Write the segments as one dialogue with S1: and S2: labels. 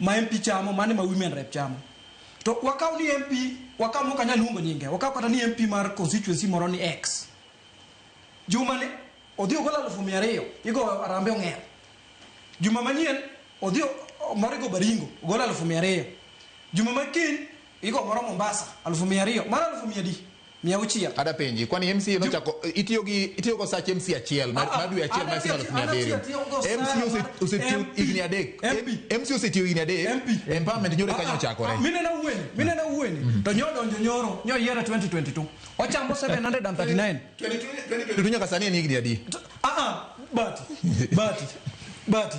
S1: ma MP chamo mano ema women rep chamo. To wakaw ni MP, wakaw mok anyal luongo nyinge, wakaw kata ni MP mar constituency moro ni X. Juma ni odhi ogol alufu mia ariyo, igo arambe ong'er. Juma manyien odhi o- o- moro igo baringo, ogol alufu mia ariyo. Juma ma kiny Iko moro Mombasa, alufu mia ariyo. Mano alufu mia adi? Mia auchiel. Ada penji, kwani
S2: MCA nochako itiyo gi itiyo go sach MCA achiel ma Ah, ah, ma dwe achiel ma ada sima tiyo- elfu mia ada abiriyo. tiyo- tiyo go MCA sawa. ose- osetiyo MP. higni adek. MP. MCA osetiyo higni adek. MP. Empowerment nyoro kanyo ochakore. Minena wueni, minena
S1: wueni. To nyo donjo nyoro, nyo yiero 2022. Ochamo 739. Tutu
S2: nyaka sani en higni adi? Ah, ah, bati bati
S1: bati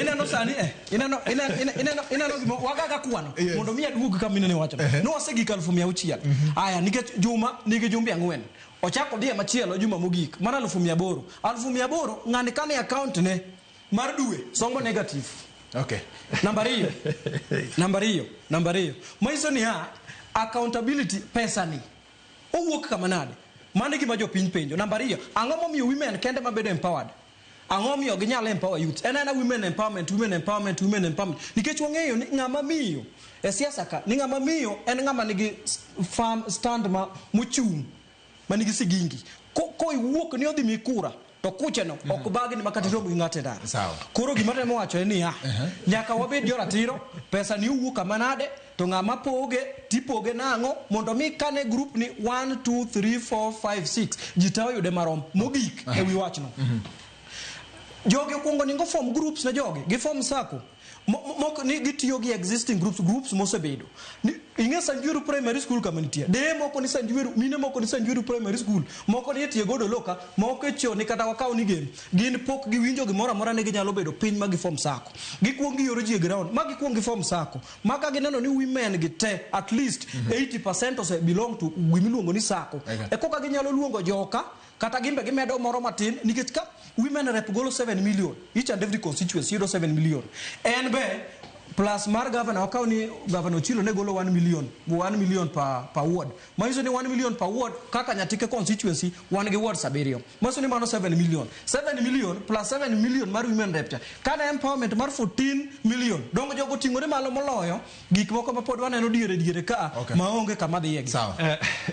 S1: ineno sani eh ineno ineno ineno ineno gimo wagaga kwano Yes. mondo mi aduog kama inene wacho Ehe. no ase gik alfu mia auchiel aya nikech juma nigi jumbe ang'wen ochako diye machielo juma mogik mar alfu mia aboro alfu mia aboro ng'ani kane account ne mar dwe somo negative Okay.
S2: namba ariyo
S1: namba ariyo namba ariyo manyiso ni ha accountability pesa ni Owuok kama nade? Mano e gima jopiny penjo. Namba ariyo, ang'o momiyo women kende ma bedo empowered? Ang'o momiyo ginyalo empower youths? En aena women empowerment, women empowerment, women empowerment. Nikech wang'eyo ni ng'ama miyo e siasa ka, ni ng'ama miyo en ng'ama nigi s- firm stand ma mochung' ma nigi sigingi. Ko, ko iwuok ni odhi mi kura, to kucheno mm -hmm. ok bagni ma kata iromo gi ng'ato e ndara koro gima temo wacho en niya uh -huh. nyaka wabed joratiro pesa ni owuok kama nade to ng'a ma poge tipoge nang'o mondo mi kane grup ni 1 2 3 4 5 6 ji ta oyude marom mogik uh -huh. e wi wachno uh mhm. -huh. jogi okuongo ningo form groups ne jogi gi form sako Mo- mo- moko ni gitiyo gi existing groups groups mosebedo Ni- ing'e sanjueru primary school kama nitie deye moko ni sanjueru mine moko ni sanjueru primary school moko ni etiye godo loka moko echoni kata wakaw ni gem gin pok giwinjo gimoro amora ni ginyalo bedo piny ma gifom sako gikwong giyoro ji e ground ma gikwong gifom sako ma ka gineno ni women gi te at least 80 percent ose belong to gimiluongo ni sako Eka. e koka ginyalo luongo joka Kata gimbe gimedo moro matin nikech ka women rep golo 7 million each and every constituency yudo 7 million en be plus mar governor wakaw ni governor Ochilo ne golo 1 million 1 million per, per ward manyiso ni 1 million per ward kaka Nyatike constituency wan gi ward sabiriyo manyiso ni mano 7 million 7 million plus 7 million mar women rep cha kana empowerment mar 14 million dongo jogo ting'ore malo moloyo gik moko ma pod waneno diere diere ka Okay. maonge kama dhiye gi Sawa.